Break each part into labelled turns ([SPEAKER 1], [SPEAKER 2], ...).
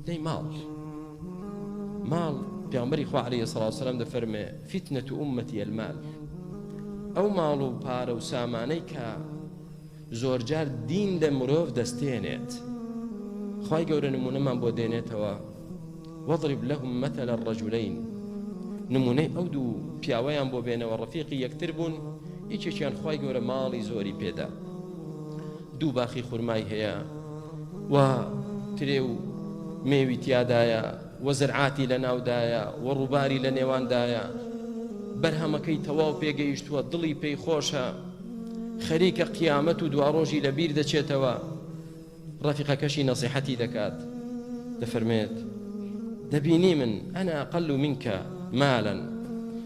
[SPEAKER 1] فتنەی ماڵ ماڵ پێامبەری خوا علیە سڵاو سلام دەفەرمێ فتنە تو ئومەتی المال ئەو ماڵ و پارە و سامانەی کە زۆرجار دین لە مرۆڤ دەستێنێت خی گەورە نمونەمان بۆ دێنێتەوە وەضرب لەهم مەتە لە ڕەجولین نمونەی ئەو دوو پیاوەیان بۆ بێنەوە ڕفیقی یەکتر بوون یەکێکیان خی گەورە ماڵی زۆری پێدا دوو باخی خورمای هەیە و ترێ و مێوی تیادایە و زرعاتی لە ناودایە و ڕووباری لە نێواندایە بەرهەمەکەی تەواو پێگەیشتووە دڵی پێی خۆشە خەریکە قیامەت و دواڕۆژی لە بیر دەچێتەوە ڕەفیقەکەشی نەسیحەتی دەکات دەفەرمێت دەبینی من ئەنا قەل و منکە مالن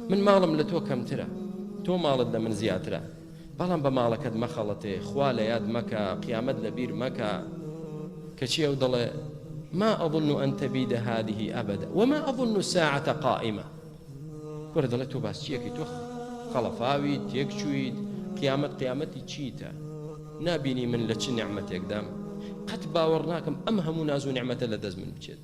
[SPEAKER 1] من ماڵم لە تۆ کەمترە تۆ ماڵت لە من زیاترە بەڵام بە ماڵەکەت مەخەڵەتێ، خوا لە یاد مەکە، قیامەت لە بیر مەکە، کەچی ئەو دەڵێ، ما اظن ان تبید هذه ابدا وما اظن الساعة قائمە، کورە دەڵێ تۆ باس چیەکەی تۆ خەڵەفاویت تێک چوویت قیامەت قیامەتی چیتە نابینی من لە چ نعمەتێکدام قەت باوەڕ ناکەم ئەم هەموو ناز و نعمەتە لە دەست من بچێت.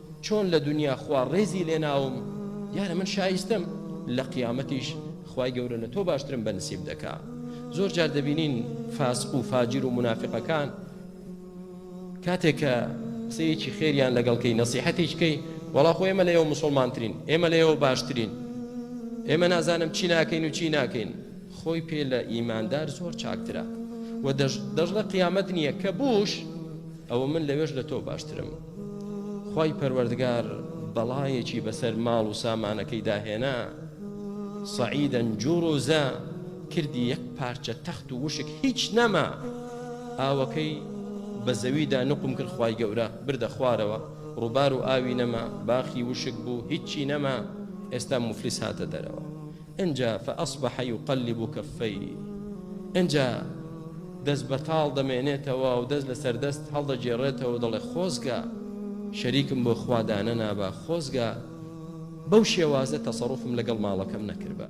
[SPEAKER 1] چۆن لە دونیا خوا ڕێزی لێناوم دیارە من شایستەم لە قیامەتیش خوای گەورە لە تۆ باشترم بە نسیب دەکا زۆر جار دەبینین فاسق و فاجر و منافقەکان کاتێک کە قسەیەکی خێریان لەگەڵکەی نەسیحەتێککەی وەڵا خۆ ئێمە لەەوە مسلمانترین ئێمە لەەوە باشترین ئێمە نازانم چی ناکەین و چی ناکەین خۆی پێ لە ئیماندار زۆر چاکترە و دەژڵە قیامەت نییە کە بوش ئەوە من لەوێش لە تۆ باشترم خوای پەروەردگار بەڵایەکی بەسەر ماڵ و سامانەکەیدا هێنا، سەعیدە جوڕ و زە کردی یەک پارچە تەخت و وشک هیچ نەما، ئاوەکەی بە زەویدا نوقم کرد خوای گەورە بردە خوارەوە، ڕووبار و ئاوی نەما، باخی وشک بوو هیچی نەما، ئێستا موفلیس هاتە دەرەوە. ئنجا فاصبح یقلب کفیه ئنجا دەست بەتاڵ دەمێنێتەوە و دەست لەسەر دەست هەڵدەگێڕێتەوە و دەڵێ خۆزگا شەریکم بۆ خوا دانەنابا خۆزگا بەو شێوازە تەسەڕوفم لەگەڵ ماڵەکەم نەکردبا.